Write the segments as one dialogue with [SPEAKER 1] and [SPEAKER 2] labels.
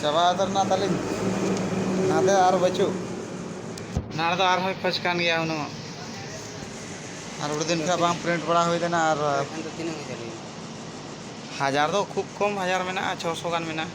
[SPEAKER 1] ᱪᱟᱵᱟ ᱩᱛᱟᱹᱨ ᱮᱱᱟ ᱛᱟᱹᱞᱤᱧ ᱱᱟᱫᱮ ᱟᱨ ᱵᱟᱹᱪᱩᱜ ᱚᱱᱟ ᱨᱮᱫᱚ ᱟᱨᱦᱚᱸᱭ ᱠᱷᱚᱡᱽ ᱠᱟᱱ ᱜᱮᱭᱟ ᱩᱱᱟᱹᱜ ᱟᱨ ᱟᱹᱰᱤ ᱫᱤᱱ ᱠᱷᱚᱱ ᱵᱟᱝ ᱯᱨᱤᱱᱴ ᱵᱟᱲᱟ ᱦᱩᱭ ᱞᱮᱱᱟ ᱟᱨ ᱦᱟᱡᱟᱨ ᱫᱚ ᱠᱷᱩᱵ ᱠᱚᱢ ᱦᱟᱡᱟᱨ ᱢᱮᱱᱟᱜᱼᱟ ᱪᱷᱚᱥᱚ ᱜᱟᱱ ᱢᱮᱱᱟᱜᱼᱟ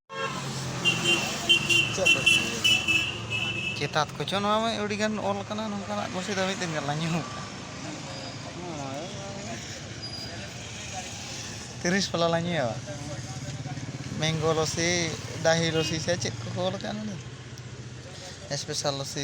[SPEAKER 1] ᱪᱮᱛᱟᱛ ᱠᱚᱪᱚ ᱱᱚᱣᱟ ᱢᱟ ᱟᱹᱰᱤ ᱜᱟᱱ ᱚᱞ ᱠᱟᱱᱟ ᱱᱚᱝᱠᱟᱱᱟᱜ ᱠᱩᱥᱤ ᱫᱚ ᱢᱤᱫ ᱫᱤᱱ ᱜᱟᱱ ᱞᱟᱧ ᱧᱩ ᱛᱤᱨᱤᱥ ᱯᱟᱞᱟ ᱞᱟᱧ ᱧᱩᱭᱟ ᱢᱮᱝᱜᱳ ᱞᱚᱥᱤ ᱫᱟᱦᱤ ᱞᱚᱥᱤ ᱥᱮ ᱪᱮᱫ ᱠᱚᱠᱚ ᱚᱞ ᱠᱟᱜᱼᱟ ᱱᱚᱰᱮ ᱥᱯᱮᱥᱟᱞ ᱞᱚᱥᱤ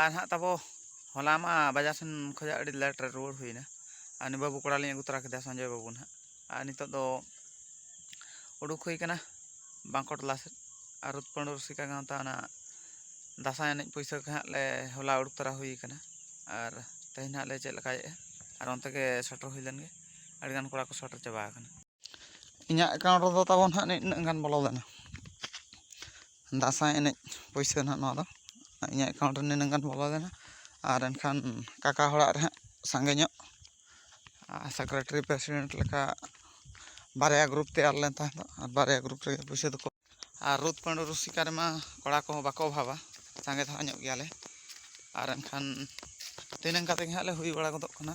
[SPEAKER 1] ᱟᱨ ᱦᱟᱸᱜ ᱛᱟᱵᱚ ᱦᱚᱞᱟ ᱢᱟ ᱵᱟᱡᱟᱨ ᱥᱮᱱ ᱠᱷᱚᱡᱟᱜ ᱟᱹᱰᱤ ᱞᱮᱴ ᱨᱮ ᱨᱩᱣᱟᱹᱲ ᱦᱩᱭᱱᱟ ᱟᱨ ᱱᱤ ᱵᱟᱹᱵᱩ ᱠᱚᱲᱟ ᱞᱤᱧ ᱟᱹᱜᱩ ᱛᱚᱨᱟ ᱠᱮᱫᱮᱭᱟ ᱥᱚᱧᱡᱚᱭ ᱵᱟᱹᱵᱩ ᱱᱟᱦᱟᱜ ᱟᱨ ᱱᱤᱛᱚᱜ ᱫᱚ ᱩᱰᱩᱠ ᱦᱩᱭ ᱠᱟᱱᱟ ᱵᱟᱸᱠᱚ ᱴᱚᱞᱟ ᱥᱮᱫ ᱟᱨ ᱨᱩᱫ ᱯᱟᱹᱰᱩ ᱨᱩᱥᱤᱠᱟ ᱜᱟᱶᱛᱟ ᱚᱱᱟ ᱫᱟᱥᱟᱭ ᱮᱱᱮᱡ ᱯᱩᱭᱥᱟᱹ ᱠᱚ ᱦᱟᱸᱜ ᱞᱮ ᱦᱚᱞᱟ ᱩᱰᱩᱠ ᱛᱚᱨᱟ ᱦᱩᱭ ᱠᱟᱱᱟ ᱟᱨ ᱛᱮᱦᱮᱧ ᱦᱟᱸᱜ ᱞᱮ ᱪᱮᱫ ᱞᱮᱠᱟᱭᱮᱫᱼᱟ ᱟᱨ ᱚᱱᱛᱮ ᱜᱮ ᱥᱮᱴᱮᱨ ᱦᱩᱭ ᱞᱮᱱ ᱜᱮ ᱟᱹᱰᱤ ᱜᱟᱱ ᱠᱚᱲᱟ ᱠᱚ ᱥᱮᱴᱮᱨ ᱪᱟᱵᱟ ᱟᱠᱟᱱᱟ ᱤᱧᱟᱹᱜ ᱮᱠᱟᱣᱩᱱᱴ ᱨᱮᱫᱚ ᱛᱟᱵᱚᱱ ᱦᱟᱸᱜ ᱱᱤᱱᱟᱹᱜ ᱜᱟᱱ ᱵᱚᱞᱚ ᱞᱮᱱᱟ ᱫᱟᱸᱥᱟᱭ ᱮᱱᱮᱡ ᱯᱩᱭᱥᱟᱹ ᱦᱟᱸᱜ ᱱᱚᱣᱟ ᱫᱚ ᱤᱧᱟᱹᱜ ᱮᱠᱟᱣᱩᱱᱴ ᱨᱮ ᱱᱤᱱᱟᱹᱜ ᱜᱟᱱ ᱵᱚᱞᱚ ᱞᱮᱱᱟ ᱟᱨ ᱮᱱᱠᱷᱟᱱ ᱠᱟᱠᱟ ᱦᱚᱲᱟᱜ ᱨᱮ ᱦᱟᱸᱜ ᱥᱟᱸᱜᱮ ᱧᱚᱜ ᱥᱮᱠᱨᱮᱴᱟᱨᱤ ᱯᱨᱮᱥᱤᱰᱮᱱᱴ ᱞᱮᱠᱟ ᱵᱟᱨᱭᱟ ᱜᱨᱩᱯ ᱛᱮᱭᱟᱨ ᱞᱮᱱ ᱛᱟᱦᱮᱸ ᱫᱚ ᱟᱨ ᱵᱟᱨᱭᱟ ᱜᱨᱩᱯ ᱨᱮᱜᱮ ᱯᱩᱭᱥᱟᱹ ᱫᱚᱠᱚ ᱟᱨ ᱨᱩᱫ ᱯᱟᱹᱰᱩ ᱨᱩᱥᱤᱠᱟ ᱨᱮᱢᱟ ᱠᱚᱲᱟ ᱠᱚᱦᱚᱸ ᱵᱟᱠᱚ ᱚᱵᱷᱟᱵᱟ ᱥᱟᱸᱜᱮ ᱫᱷᱟᱨᱟ ᱧᱚᱜ ᱜᱮᱭᱟᱞᱮ ᱟᱨ ᱮᱱᱠᱷᱟᱱ ᱛᱤᱱᱟᱹᱝ ᱠᱟᱛᱮ ᱜᱮ ᱦᱟᱸᱜ ᱞᱮ ᱦᱩᱭ ᱵᱟᱲᱟ ᱜᱚᱫᱚᱜ ᱠᱟᱱᱟ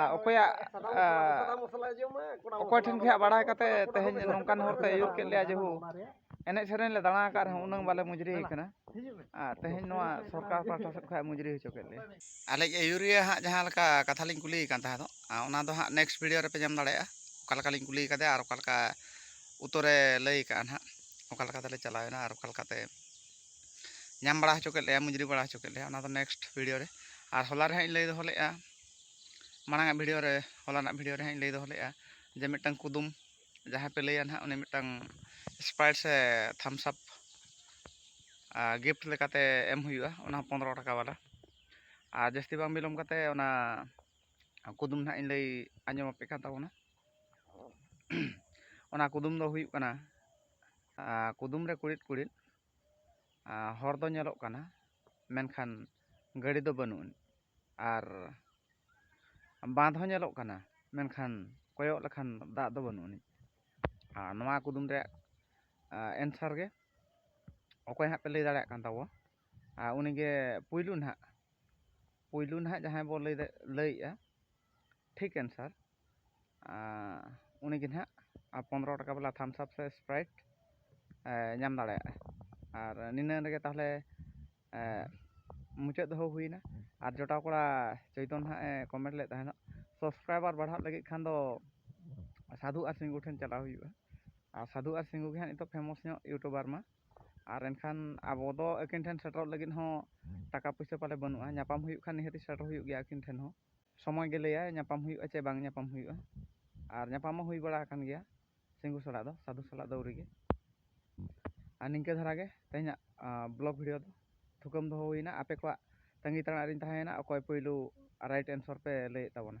[SPEAKER 1] ᱟᱨ ᱚᱠᱚᱭᱟᱜ ᱚᱠᱚᱭ ᱴᱷᱮᱱ ᱠᱷᱚᱱᱟᱜ ᱵᱟᱲᱟᱭ ᱠᱟᱛᱮ ᱛᱮᱦᱮᱧ ᱱᱚᱝᱠᱟᱱ ᱦᱚᱨᱛᱮ ᱟᱹᱭᱩᱨ ᱠᱮᱫ ᱞᱮᱭᱟ ᱡᱮᱦᱩ ᱮᱱᱮᱡ ᱥᱮᱨᱮᱧ ᱞᱮ ᱫᱟᱬᱟ ᱟᱠᱟᱫ ᱨᱮᱦᱚᱸ ᱩᱱᱟᱹᱜ ᱵᱟᱞᱮ ᱢᱩᱡᱽᱨᱤ ᱟᱠᱟᱱᱟ ᱟᱨ ᱛᱮᱦᱮᱧ ᱱᱚᱣᱟ ᱥᱚᱨᱠᱟᱨ ᱯᱟᱦᱴᱟ ᱥᱮᱫ ᱠᱷᱚᱱᱟᱜ ᱢᱩᱡᱽᱨᱤ ᱦᱚᱪᱚ ᱠᱮᱫ ᱞᱮᱭᱟ ᱟᱞᱮᱭᱤᱡ ᱟᱹᱭᱩᱨᱤᱭᱟᱹ ᱦᱟᱸᱜ ᱡᱟᱦᱟᱸ ᱞᱮᱠᱟ ᱠᱟᱛᱷᱟ ᱞᱤᱧ ᱠᱩᱞᱤᱭᱮ ᱠᱟᱱ ᱛᱟᱦᱮᱸ ᱫᱚ ᱚᱱᱟ ᱫᱚ ᱦᱟᱸᱜ ᱱᱮᱠᱥᱴ ᱵᱷᱤᱰᱤᱭᱳ ᱨᱮᱯᱮ ᱧᱟᱢ ᱫᱟᱲᱮᱭᱟᱜᱼᱟ ᱚᱠᱟ ᱞᱮᱠᱟ ᱞᱤᱧ ᱠᱩᱞᱤ ᱟᱠᱟᱫᱮᱭᱟ ᱟᱨ ᱚᱠᱟ ᱞᱮᱠᱟ ᱩᱛᱛᱚᱨᱮ ᱞᱟᱹᱭ ᱟᱠᱟᱫᱼᱟ ᱦᱟᱸᱜ ᱚᱠᱟ ᱞᱮᱠᱟ ᱛᱮᱞᱮ ᱪᱟᱞᱟᱣᱮᱱᱟ ᱟᱨ ᱚᱠᱟ ᱞᱮᱠᱟᱛᱮ ᱧᱟᱢ ᱵᱟᱲᱟ ᱦᱚᱪᱚ ᱠᱮᱫ ᱞᱮᱭᱟ ᱢᱩᱡᱽᱨᱤ ᱵᱟᱲᱟ ᱦᱚᱪᱚ ᱠᱮᱫ ᱞᱮᱭᱟ ᱚᱱᱟ ᱫᱚ ᱱᱮᱠᱥᱴ ᱵᱷᱤᱰᱤᱭᱳ ᱨᱮ ᱟᱨ ᱦᱚᱞᱟ ᱨᱮ ᱦᱟᱸᱜ ᱤᱧ ᱞᱟᱹᱭ ᱫᱚᱦᱚ ᱞᱮᱫᱼᱟ ᱢᱟᱲᱟᱝ ᱟᱜ ᱵᱷᱤᱰᱤᱭᱳ ᱨᱮ ᱦᱚᱞᱟ ᱨᱮᱱᱟᱜ ᱵᱷᱤᱰᱤᱭᱳ ᱨᱮ ᱦᱟᱸᱜ ᱤᱧ ᱞᱟᱹᱭ ᱫᱚᱦᱚ ᱞᱮᱫᱼᱟ ᱡᱮ ᱢᱤᱫᱴᱟᱝ ᱠᱩᱫᱩᱢ ᱡᱟᱦᱟᱸᱭ ᱯᱮ ᱞᱟᱹᱭᱟ ᱱᱟᱦᱟᱜ ᱩᱱᱤ ᱢᱤᱫᱴᱟᱝ ᱥᱯᱨᱟᱭᱤᱴ ᱥᱮ ᱛᱷᱟᱢᱥ ᱟᱯ ᱜᱤᱯᱷᱴ ᱞᱮᱠᱟᱛᱮ ᱮᱢ ᱦᱩᱭᱩᱜᱼᱟ ᱚᱱᱟ ᱦᱚᱸ ᱯᱚᱱᱨᱚ ᱴᱟᱠᱟ ᱵᱟᱞᱟ ᱟᱨ ᱡᱟᱹᱥᱛᱤ ᱵᱟᱝ ᱵᱤᱞᱚᱢ ᱠᱟᱛᱮ ᱚᱱᱟ ᱠᱩᱫᱩᱢ ᱱᱟᱦᱟᱜ ᱤᱧ ᱞᱟᱹᱭ ᱟᱸᱡᱚᱢ ᱟᱯᱮ ᱠᱟᱱ ᱛᱟᱵᱚᱱᱟ ᱚᱱᱟ ᱠᱩᱫᱩᱢ ᱫᱚ ᱦᱩᱭᱩᱜ ᱠᱟᱱᱟ ᱠᱩᱫᱩᱢ ᱨᱮ ᱠᱩᱬᱤᱫ ᱠᱩᱬᱤᱫ ᱦᱚᱲ ᱫᱚ ᱧᱮᱞᱚᱜ ᱠᱟᱱᱟ ᱢᱮᱱᱠᱷᱟᱱ ᱜᱟᱹᱰᱤ ᱫᱚ ᱵᱟᱹᱱᱩᱜ ᱟᱹᱱᱤᱡ ᱟᱨ ᱵᱟᱸᱫᱽ ᱦᱚᱸ ᱧᱮᱞᱚᱜ ᱠᱟᱱᱟ ᱢᱮᱱᱠᱷᱟᱱ ᱠᱚᱭᱚᱜ ᱞᱮᱠᱷᱟᱱ ᱫᱟᱜ ᱫᱚ ᱵᱟᱹᱱᱩᱜ ᱟᱹᱱᱤᱡ ᱟᱨ ᱱᱚᱣᱟ ᱠᱩᱫᱩᱢ ᱨᱮᱭᱟᱜ ᱮᱱᱥᱟᱨ ᱜᱮ ᱚᱠᱚᱭ ᱦᱟᱸᱜ ᱯᱮ ᱞᱟᱹᱭ ᱫᱟᱲᱮᱭᱟᱜ ᱠᱟᱱ ᱛᱟᱵᱚᱣᱟ ᱟᱨ ᱩᱱᱤᱜᱮ ᱯᱳᱭᱞᱳ ᱱᱟᱦᱟᱜ ᱯᱳᱭᱞᱳ ᱱᱟᱦᱟᱜ ᱡᱟᱦᱟᱸᱭ ᱵᱚᱱ ᱞᱟᱹᱭᱮᱜᱼᱟ ᱴᱷᱤᱠ ᱮᱱᱥᱟᱨ ᱩᱱᱤᱜᱮ ᱱᱟᱦᱟᱜ ᱯᱚᱱᱨᱚ ᱴᱟᱠᱟ ᱵᱟᱞᱟ ᱛᱷᱟᱢᱥ ᱟᱯ ᱥᱮ ᱥᱯᱨᱟᱭᱤᱴ ᱧᱟᱢ ᱫᱟᱲᱮᱭᱟᱜᱼᱟ ᱟᱨ ᱱᱤᱱᱟᱹᱜ ᱨᱮᱜᱮ ᱛᱟᱦᱚᱞᱮ ᱢᱩᱪᱟᱹᱫ ᱫᱚᱦᱚ ᱦᱩᱭᱱᱟ ᱟᱨ ᱡᱚᱴᱟᱣ ᱠᱚᱲᱟ ᱪᱳᱭᱛᱚᱱ ᱱᱟᱦᱟᱜ ᱮ ᱠᱚᱢᱮᱱᱴ ᱞᱮᱫ ᱛᱟᱦᱮᱱᱚᱜ ᱥᱟᱵᱥᱠᱨᱟᱭᱵᱟᱨ ᱵᱟᱲᱦᱟᱜ ᱞᱟᱹᱜᱤᱫ ᱠᱷᱟᱱ ᱫᱚ ᱥᱟᱹᱫᱷᱩ ᱟᱨ ᱥᱤᱝᱜᱩ ᱴᱷᱮᱱ ᱪᱟᱞᱟᱣ ᱦᱩᱭᱩᱜᱼᱟ ᱟᱨ ᱥᱟᱹᱫᱷᱩ ᱟᱨ ᱥᱤᱝᱜᱩ ᱜᱮ ᱦᱟᱸᱜ ᱱᱤᱛᱚᱜ ᱯᱷᱮᱢᱚᱥ ᱧᱚᱜ ᱤᱭᱩᱴᱩᱵᱟᱨ ᱢᱟ ᱟᱨ ᱮᱱᱠᱷᱟᱱ ᱟᱵᱚ ᱫᱚ ᱟᱹᱠᱤᱱ ᱴᱷᱮᱱ ᱥᱮᱴᱮᱨᱚᱜ ᱞᱟᱹᱜᱤᱫ ᱦᱚᱸ ᱴᱟᱠᱟ ᱯᱩᱭᱥᱟᱹ ᱯᱟᱞᱮ ᱵᱟᱹᱱᱩᱜᱼᱟ ᱧᱟᱯᱟᱢ ᱦᱩᱭᱩᱜ ᱠᱷᱟᱱ ᱱᱤᱦᱟᱹᱛ ᱥᱮᱴᱮᱨ ᱦᱩᱭᱩᱜ ᱜᱮᱭᱟ ᱟᱹᱠᱤᱱ ᱴᱷᱮᱱ ᱦᱚᱸ ᱥᱚᱢᱚᱭ ᱜᱮ ᱞᱟᱹᱭᱟ ᱧᱟᱯᱟᱢ ᱦᱩᱭᱩᱜᱼᱟ ᱪᱮ ᱵᱟᱝ ᱧᱟᱯᱟᱢ ᱦᱩᱭᱩᱜᱼᱟ ᱟᱨ ᱧᱟᱯᱟᱢ ᱦᱚᱸ ᱦᱩᱭ ᱵᱟᱲᱟ ᱟᱠᱟᱱ ᱜᱮᱭᱟ ᱥᱤᱝᱜᱩ ᱥᱟᱞᱟᱜ ᱫᱚ ᱥᱟᱫᱷᱩ ᱥᱟᱞᱟᱜ ᱫᱚ ᱟᱹᱣᱨᱤ ᱜᱮ ᱟᱨ ᱱᱤᱝᱠᱟᱹ ᱫᱷᱟᱨᱟ ᱜᱮ ᱛᱮᱦᱮᱧᱟᱜ ᱵᱞᱚᱜ ᱵᱷᱤᱰᱤᱭᱳ ᱫᱚ ᱛᱷᱩᱠᱟᱹᱢ ᱫᱚᱦᱚ ᱦᱩᱭᱱᱟ ᱟᱯᱮ ᱠᱚᱣᱟᱜ ᱛᱟᱺᱜᱤ ᱛᱟᱲᱟᱜ ᱨᱤᱧ ᱛᱟᱦᱮᱸᱭᱮᱱᱟ ᱚᱠᱚᱭ ᱯᱳᱭᱞᱳ ᱨᱟᱭᱤᱴ ᱮᱱᱥᱚᱨ ᱯᱮ ᱞᱟᱹᱭᱮᱫ ᱛᱟᱵᱚᱱᱟ